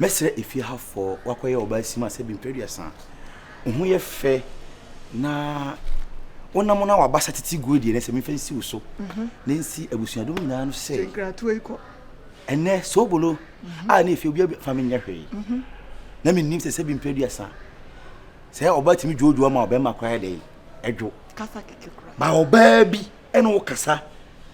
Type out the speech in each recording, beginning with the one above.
Mɛsrɛ efie ha foɔ wakɔyɛ ɔbaa sima sɛ bmpɛ aduasa wo ho yɛ fɛ na wo nam na waba sa titi gu deɛ sɛ memfa nsi wo so na nsi abusuadom nyinaa no sɛ ɛnɛ soobolo a ne efie obi fa menyɛ hwee na mennim sɛ sɛ bmpɛ aduasa sɛ ɔbaa tumi dwoodwo ama ɔbɛma koraa dɛn ɛdwo ba ɔbaa bi ɛne wo kasa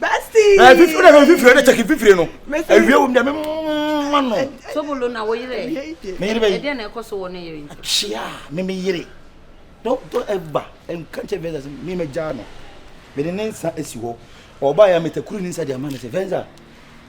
Bestie. Fifiri na fifiri na check fifiri no. Ewie wom dɛ me mma no. Tobolo na wo yere. Me yere bɛ. Ɛdeɛ na ɛkɔ so wɔ ne yere nti. Kyia me me yere. Dɔ dɔ ɛba nka nkyɛn fɛnsa sɛ me mɛ gya no. Me de ne nsa esi hɔ. Ɔba ya me takuru ne nsa de ama no sɛ fɛnsa.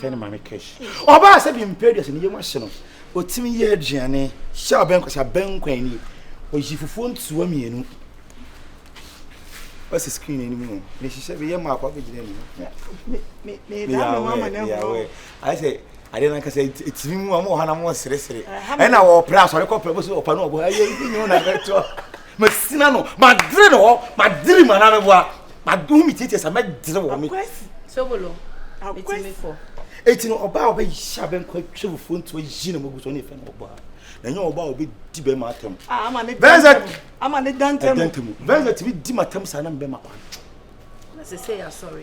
fɛ ne maame cash ɔbaa sɛ bi mpɛ aduasa ne yam ahye no ɔtumi yɛ aduane sɛ abɛnkwasa bɛnkwan ni ɔyi fufuo ntoa mmienu ɔsi screen anim no ne hyehyɛ bi yɛ maako abɛgyina anim meyawɛ ayɛ sɛ adeɛ no ankasa ɛtumi mu a mowɔ hɔ na mowɔ seresere ɛna wɔpra asɔre kɔpra bɛsɛ ɔpa no ɔbɔ ayɛ nyɛ wo na bɛtoa masina no madere no hɔ madere mu anaa meboa madoho metietie sa mɛdere wɔ me sobolo ɛtumi kɔ ɛti no ɔbaa ɔbɛhyɛ abɛnkɔ atwa fufuo nti ɔyi na magu so ne ɛfɛ no ɔbaa na ɛnyɛ ɔbaa ɔbɛdi bɛma atam bɛnzɛdantɛmu bɛnzɛ tumi di matam saa na mbɛma kwan na sɛ sɛ yɛasɔre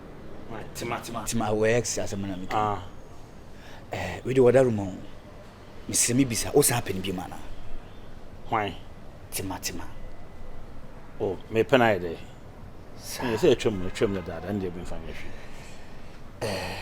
Tema. Tema wɔ ex asɛm na meka. Ah. Eh, wei de wɔda ruma o. Mesrɛ me bisa, wo san pɛ no biom anaa? Hwan? Tema tema. Oh, me pɛ no ayɛ dɛ. Sa. Ɛyɛ sɛ atwam, atwam dadaada, ɛndeɛ memfa nyɛ hwee. Eh.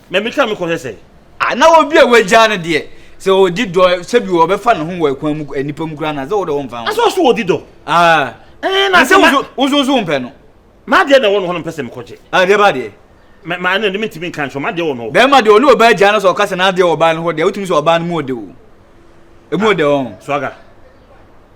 Ma mitwa me kɔhwɛ sɛ. Ah na obi a wagyaa no deɛ sɛ ɔdi dɔ sɛbi ɔbɛfa ne ho wɔ ɛkwan mu nnipa mu koraa na sɛ wode wo mfa ho. Asɛ ɔso ɔdi dɔ. Ah. Ɛɛ na sɛ woso woso woso mpɛ no. Ma deɛ na ɛwɔ no hɔ no mpɛ sɛ mekɔgye. Ah deɛ ba deɛ. Ma ma ɛna ne mentumi nka nkyerɛ ma deɛ wɔ no hɔ. Bɛrima deɛ ɔne ɔbaa gyaa no sɛ ɔka sɛ n'adeɛ wɔ ɔbaa no hɔ deɛ wotumi sɛ ɔbaa no mu ɔde o. Emu ɔde ɔn. Swaga.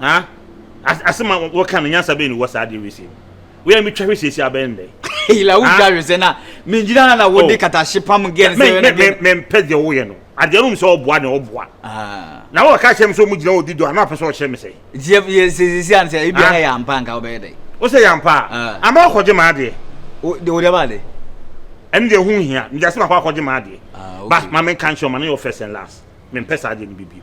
Ha? As asɛm a wɔka no nyansa bɛn ne wɔ saa adeɛ wei sei mu? Wei a metwa hwɛ siesie abɛn nnɛ. Ila wo twa hwɛ sɛ na mengyina ha na wode oh. katahye pam gɛn sɛ na gɛn. Mempɛ deɛ woyɛ no. Adeɛ no mu sɛ ɔboa na ɔboa. Ah. Na wɔka kyerɛ me sɛ ɔmu gyina ɔdi do a na ɔpɛ sɛ ɔkyerɛ me sɛ. Yɛ siesie an sɛ ebi ah. ha yɛ ampa nka wobɛyɛ dɛ. Wo sɛ yɛ ampa a. Ah. Ama wakɔgye ma adeɛ. O de o de ma adeɛ. Ɛne deɛ ho hia. Mede asɛm akɔ akɔgye ma adeɛ. Ba ma menka nkyerɛ ɔma no yɛ first and last. Mempɛ saa adeɛ no bibio.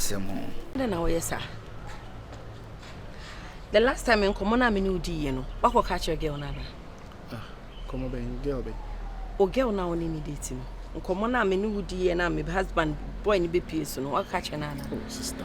asɛm ho. Dɛn na wɔyɛ saa? The last time nkɔmɔ no a me ne wo diiɛ no, woakɔ ka kyerɛ girl no anaa? Ah, nkɔmɔ bɛn girl bɛn? O girl no a wo ne ne date no. Nkɔmɔ no a me ne wo diiɛ no a me husband boy no bɛpie so no, woakɔ ka kyerɛ no anaa? Oh, sister.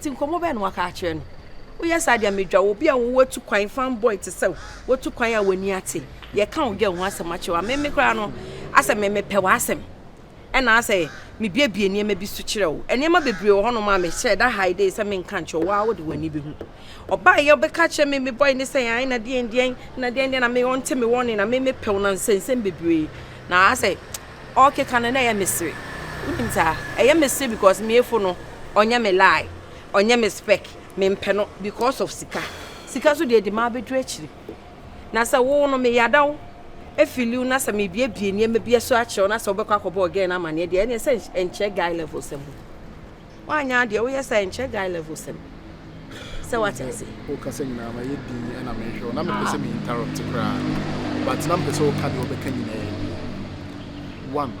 Ti nkɔmɔ bɛn na waka akyerɛ no? Woyɛ saa deɛ medwa wo bi a wowɔ tu kwan fan boy te sɛ wotu kwan a w'ani ate yɛka wo dwa ho asɛm akyerɛ wa meme koraa no asɛ me mepɛ w'asɛm ɛna asɛ mebiebie nneɛma bi so kyerɛ wo nneɛma bebree wɔ hɔnom a mehyɛ da hae de sɛ menka nkyerɛ wo a wode w'ani bɛhu ɔbaa yɛ wobɛka kyerɛ me me boy ne sɛ ae na deɛn deɛn na deɛn deɛn na me ɔnte me wɔne na me mepɛw na nsɛnsɛm bebree na asɛ ɔrekeka no na ɛyɛ me sere wonim saa ɛyɛ me sere because me yefo no ɔnyɛ me lie ɔnyɛ me spec me mpɛ no because of sika sika so deɛ ɛde maa bɛduru akyiri na sɛ wo no me yada wo efili wo na sɛ me biebie nneɛma bi ɛso akyerɛ wo na sɛ wobɛkɔ akɔbɔ ɔgɛn no amaneɛ deɛ ɛne sɛ ɛnkyerɛ guy level sɛ mu Woanyɛ adeɛ woyɛ saa ɛnkyerɛ guy level sɛm sɛ wate ase. Wo kasa nyinaa ma yɛ din ɛna me hwɛ wo na me pɛ sɛ me interrupt koraa but na me pɛ sɛ wo ka deɛ wobɛka nyinaa wie one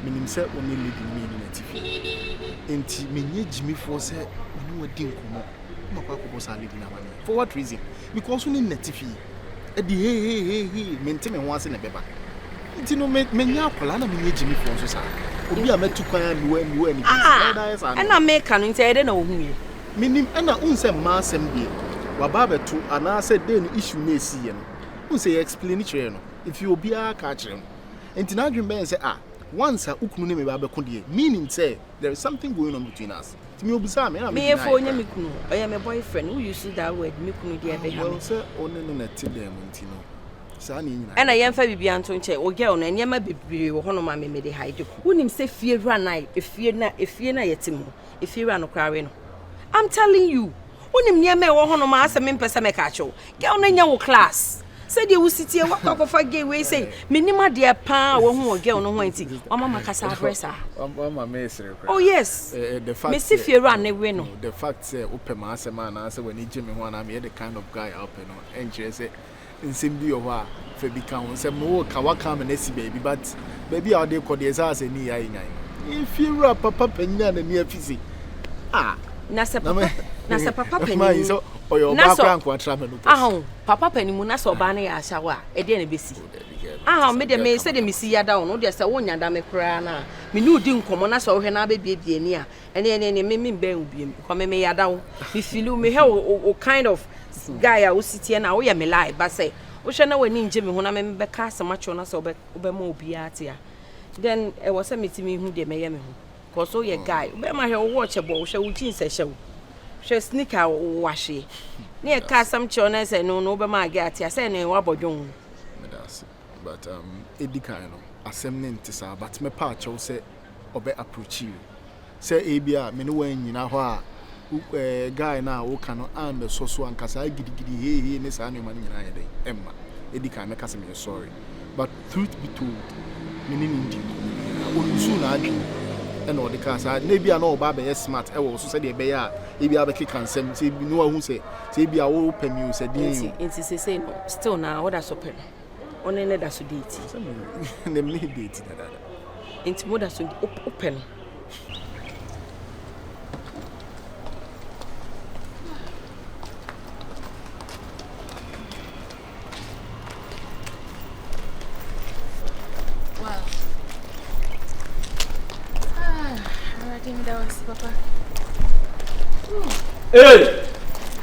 me nim sɛ wo ne lady no me yɛnim atifi enti me nyɛ gyimifoɔ sɛ me ne wadi nkɔmɔ na wakɔ akɔbɔ saa lady no amane for what reason Mekɔɔ so ne no atifi, ɛde hehehehe, mente me ho ase na ɛbɛba nti no, me, menyɛ akwadaa na menyɛ gyimifoɔ nso saa. Obi a matu kwan a mewɔ mewɔ anigye nti, na ɔda ayɛ saa nneɛma. Ɛna meka no nti, ɛyɛ dɛ na ohuiɛ. Menim, ɛna wohu sɛ mmaa asɛm deɛ, waba abɛto anaasɛ dɛn no issue no a ɛsiiɛ no, wohu sɛ yɛ explaini kyerɛɛ no, ɛfie obiara aka akyerɛ no, nti n'adwene bɛyɛ sɛ ah, once a wo kunu ne me ba bɛko deɛ, meaning sɛ, There is something going on between us. Ti mi obusa mi na mi deny. Meyefo onye me kunu. Ɔyɛ me boyfriend. Wo use that word me kunu deɛ ɛbɛha me. Well sɛ ɔne no na ɛte dɛn mu nti no saa ne nyinaa. Ɛna yɛmfa bibia nto nkyɛn. O girl no nneɛma bebree wɔ hɔnom a me mede hide. Wonim sɛ fie wura na efie na efie na yɛte mu no efie wura no koraa we no. I'm telling you Wonim nneɛma a ɛwɔ hɔ nom a asɛ mempɛ sɛ mɛka akyerɛ wo. Girl no nyɛ wo class. Sɛdeɛ wosi teɛ wakɔ akɔfa gay wei sei. Menim adeɛ paa a wahu wɔ girl no ho a nti wama makasa abrɛ saa. Wama meresere koraa. Oh yes. Mese fiewura no we no. The fact sɛ wopɛ m'asɛm anaasɛ w'ani gye me ho anaa meyɛ the kind of guy a wopɛ no ɛnkyerɛ sɛ nsɛm bi wɔ hɔ a fa bi ka ho. Nsɛm no wo ka waka ama no asi baabi but baabi a wode kɔ deɛ ɛsɛ asɛ ne yɛ nyan. Efie wura papa panyin a n'ani afi se ah. Na sɛ papa na sɛ papa panyin mu sɛ ɔyɛ ɔbaa kora nko atra mɛ no pɛ. Ahon papa panyin mu na sɛ ɔbaa no yɛ ahyɛwo a ɛdeɛ na ɛbɛsi. Ahon me deɛ me sɛ deɛ mesi yada wo no deɛ sɛ wonya da me koraa no a me ne wodi nkɔmmɔ na sɛ wohwɛ na abɛbiebie ni a Ɛne ɛne ɛne me me bɛn wo biem because me me yada wo me feel wo me hɛ wo wo kind of guy a wo si teɛ na wo yɛ me lie ba sɛ wo hwɛ na w'ani ngye me ho na me me bɛka asɛm akyerɛ wo na sɛ wobɛ wobɛma obiara te a then ɛwɔ sɛ me ti me hu deɛ mɛyɛ me ho cause wo yɛ guy wo bɛrima hwɛ wo watch ɛbɔ wo hwɛ wo jeans ɛhyɛ wo hwɛ sneaker wo wo ahweɛ ne ɛka asɛm kyerɛ wo na ɛsɛ no no wobɛma age ate a sɛ ɛne wabɔ dwon ho But um edi kan no asɛm no nte saa but mɛpɛ akyɛw sɛ ɔbɛ approachi wo sɛ ebi a me ne wo annyina hɔ a wo eh, guy no a woka no ammɛsɔ so anka saa gidigidi hei hei ne saa nneɛma no nyinaa yɛ dɛn ɛmma. Edi kan mɛka sɛ meyɛ sorry but truth be told me ne no nndi nkɔmmɔ biara. Ɔluusuu n'adwene ɛna ɔde kaa saa na ebi a na ɔba abɛyɛ smart ɛwɔ wo so sɛdeɛ ɛbɛyɛ a ebi a bɛkeka nsɛm sɛ ebi na wahu sɛ sɛ ebi a wopɛ me o sɛ deɛn o. Nti nti seesei no still na woda so pɛ no? wo ne no da so deeti. Sɛ me ne me ne deeti dadaada. Nti mo da so wopɛ no. Ah, Hey!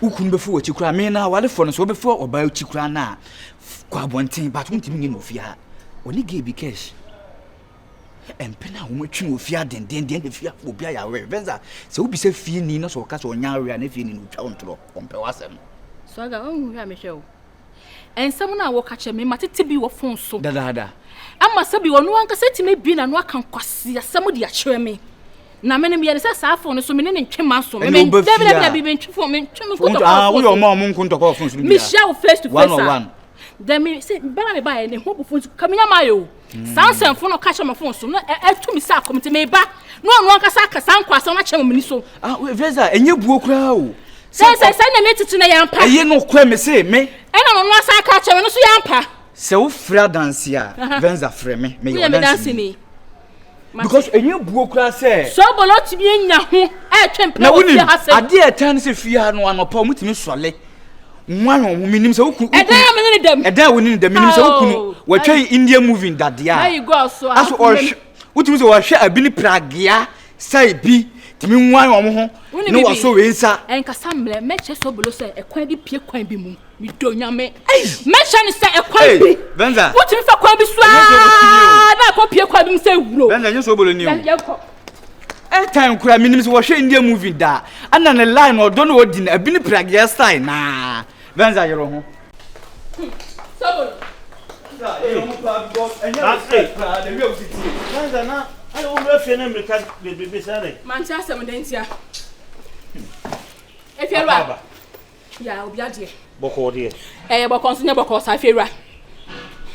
wo kunu bɛfo wɔ akyi koraa me na awarefoɔ no so wobɛfo ɔbaa akyi koraa no a kɔ abɔnten but wontumi nyɛ no ofie ha ɔne gay bi cash mpena a wɔatwi no ofie adendenden na fie afo obi ayɛ awere venza sɛ wobisa fie ni na sɛ ɔka sɛ ɔnya awere a na fie ni no ɔtwa wo ntorɔ ɔmpɛ w'asɛm swaga ɔnhu hwɛ a mehwɛ wo Nsɛm no a wɔka kyerɛ me, matete bi wɔ fon so dadaada. Ama sɛ bi ɔno ankasa atumi abie n'ano aka nkwaseasɛm de akyerɛ me. Na me no meyɛ ne sɛ saa fon no so me ne ne ntwe ma so. Me me dabidabi me ntwe fon me ntwe me nkotɔ kɔɔ fon. Woyɛ ɔmo a ɔmo nko ntɔkɔ fon so no bi a. Mehyia wo face to face a. One on one. Dɛ me sɛ bɛma me baayɛ ne ho bu fon so kaminya maa yɛ o. saa nsɛmfo no ka kyerɛ me fon so na ɛtu me sɛ akɔm nti meba na ɔno ankasa aka saa nkɔ asɛm no akyerɛ me so ah vesa ɛnyɛ buo koraa o sɛ sɛ sɛ na me tete na yɛampa ɛyɛ no korɛ me se me ɛna ɔno asa aka akyerɛ me no so yɛampa sɛ wofrɛ adanse a venza frɛ me meyɛ ɔdanseni because ɛnyɛ buo koraa sɛ sɔbɔlɔ tumi anya ho ɛtwe mpena wɔ fie ha sɛ adeɛ ɛtaa ne sɛ fie ha no anɔpa ɔmo tumi sɔle nwa hwɛ ɔmo menim sɛ woku ɛdan a mene ne dɛm ɛdan a wone ne dɛm menim sɛ woku no wɔatwa yi india movie dadeɛ a aso ɔhwɛ wotumi sɛ wɔhwɛ abi ne pragea sɛ bi tumi nwa ɔmo ho ne wɔso wei nsa ɛnkasa mmerɛ mɛkyɛ sɔbɔlɔ sɛ ɛkwan bi pie kwan bi mu medɔ nyame mɛhyɛ no sɛ ɛkwan bi wotumi fa kwan bi so aa na ɛkɔ pie kwan bi mu sɛ wuro yɛnkɔ ɛtan kura menim sɛ wɔhwɛ india movie daa ana ne line na ɔdɔ na ɔdi no abi ne pragyɛ style naa venza yerɛ ho Mante asɛm dɛn tia? Efi ɛlwa. Ya obi adeɛ. Bɔkɔɔ deɛ. Ɛyɛ bɔkɔɔ nso nyɛ bɔkɔɔ saa fewura.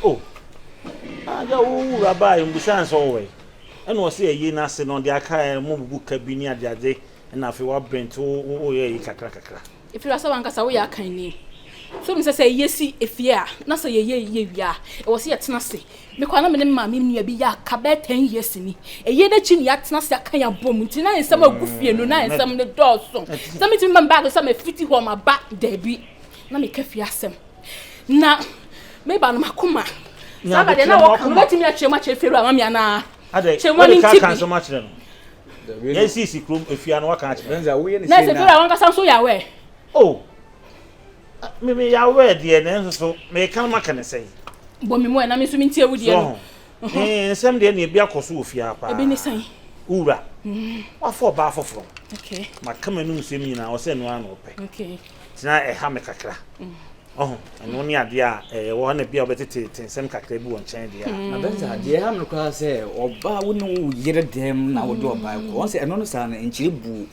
O. Ada wo wura baa yɛ mbusa ansa ɔwɔ yi. Ɛna ɔsi ɛyi n'ase no ɔde aka yɛ mo bubu ka bi ne adeade ɛna afei wa brent wo wo yɛ yi kakra kakra. Efewura sɛ wankasa woyɛ akanni. So nim sɛ sɛ yɛsi efie a na sɛ yɛyɛ yɛ wie a ɛwɔ sɛ yɛtena se Me koraa na me ne me maame nua bi yɛ aka bɛyɛ ten years ni. Eyi n'akyi na yɛatena ase aka yɛn abom nti na nsɛm a egu fie no na nsɛm no dɔɔso. Sɛ metumi ma me bag sɛ mefiti hɔ maba dabi na meka fie asɛm. Na me ba no m'akoma. Saa na deɛ na wɔka no wobɛtumi akyerɛ mu akyerɛ fie wura mami anaa? Kyerɛ mu ani nti bi. Yɛn sisi kurom efie ano waka akyerɛ. Na sɛ fie wura wankasa nso yɛ aware. Oh. Me me yaw ɛ deɛ nanso so meka no maka ne sɛn. Bɔ me mu ɛ na me nso me ntie wo deɛ no. Me nsɛm deɛ neɛ bi akɔ so wɔ fie ha paa. Ebi ne sɛn? Wo wura. Mm. Wafa ɔbaa foforɔ. Okay. Maka m'anum nsɛm nyinaa ɔsɛ ɛno ara na ɔpɛ. Okay. Tena ɛha me kakra. Mm. Ɔho ɛno ne adeɛ a ɛyɛ wɔ na bi a wobɛtete te nsɛm kakra bi wɔ nkyɛn deɛ a. Mm. Na bɛnsa deɛ ha me koraa sɛ ɔbaa wo ne wo yere dɛm na wode ɔbaa kɔ. Wɔn sɛ ɛno no saa no nkyerɛ buo.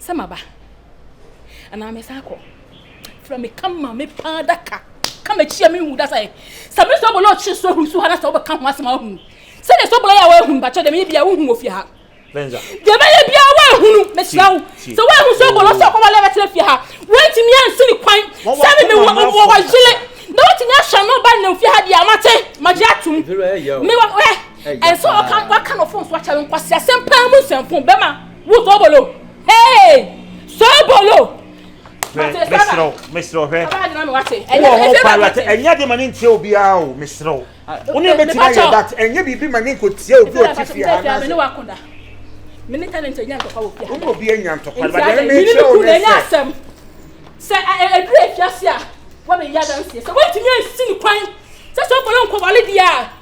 sɛ maba anaa mesan akɔ frɛ me ka ma me paa daka ka m'akyi a menhu da sɛ sɛ me sɛ bɔlɔ ɔkye so ahuru so ha na sɛ wobɛka ho asɛm a wohu sɛ ne sɛ bɔlɔ yɛ a woahunu bakyɛ dɛm yɛ bia wohu wɔ fie ha dɛm yɛ bia woahunu mehyira wo sɛ woahu sɛ bɔlɔ sɛ ɔkɔwale bɛtena fie ha woantumi ansi ne kwan sɛ me mewɔ wɔyele na wotumi ahyɛ no ba nam fie ha deɛ amate magye atom mewɔ ɛ ɛnso ɔka waka no fon so akyɛ no nkwasi asɛm paa mu nsɛmfo bɛma Wo sobolo! Hey! Sobolo! Mesrɛw, mesrɛw hwɛ. Wɔ hɔ paa wate, ɛnyɛ de ma ne ntia obiara o, mesrɛw. Wo ne bɛtumi ayɛ dat, ɛnyɛ biribi ma ne nkɔtia obi ɔte fie ha na ase. Mene talent anya ntɔkwa wɔ fie ha. Wo obi anya ntɔkwa, ba dɛn me kyerɛ wo ne sɛ. Sɛ ɛduru afiase a, wɔbɛyɛ adanseɛ. Sɛ wɔntumi ansi ne kwan, sɛ sɛ ɔbɔlɔ nkɔwale deɛ a.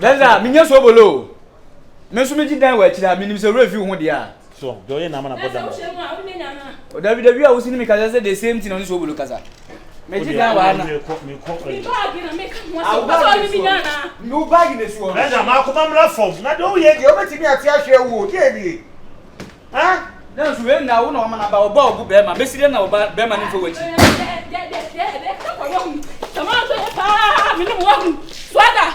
dɛnza menyɛ so obolo o me nso megye dan wɔ akyiri ha menim sɛ werɛ fi wo ho deɛ a so deɛ ɔyɛ nama na bɔ dam o dabi dabi a wosi ne mekasa sɛ the same thing ɔne so obolo kasa megye dan wɔ ana wo baagi ne soɔ dɛnza maakoma mmra fam na deɛ woyɛ deɛ wobɛtumi ate ahwɛ wuo deɛ nie Ah! Nanso wei na wo na wama n'aba ɔba ɔbo bɛrima bɛsi dɛ na ɔba bɛrima no mfa w'akyi. Menim wahu so ada.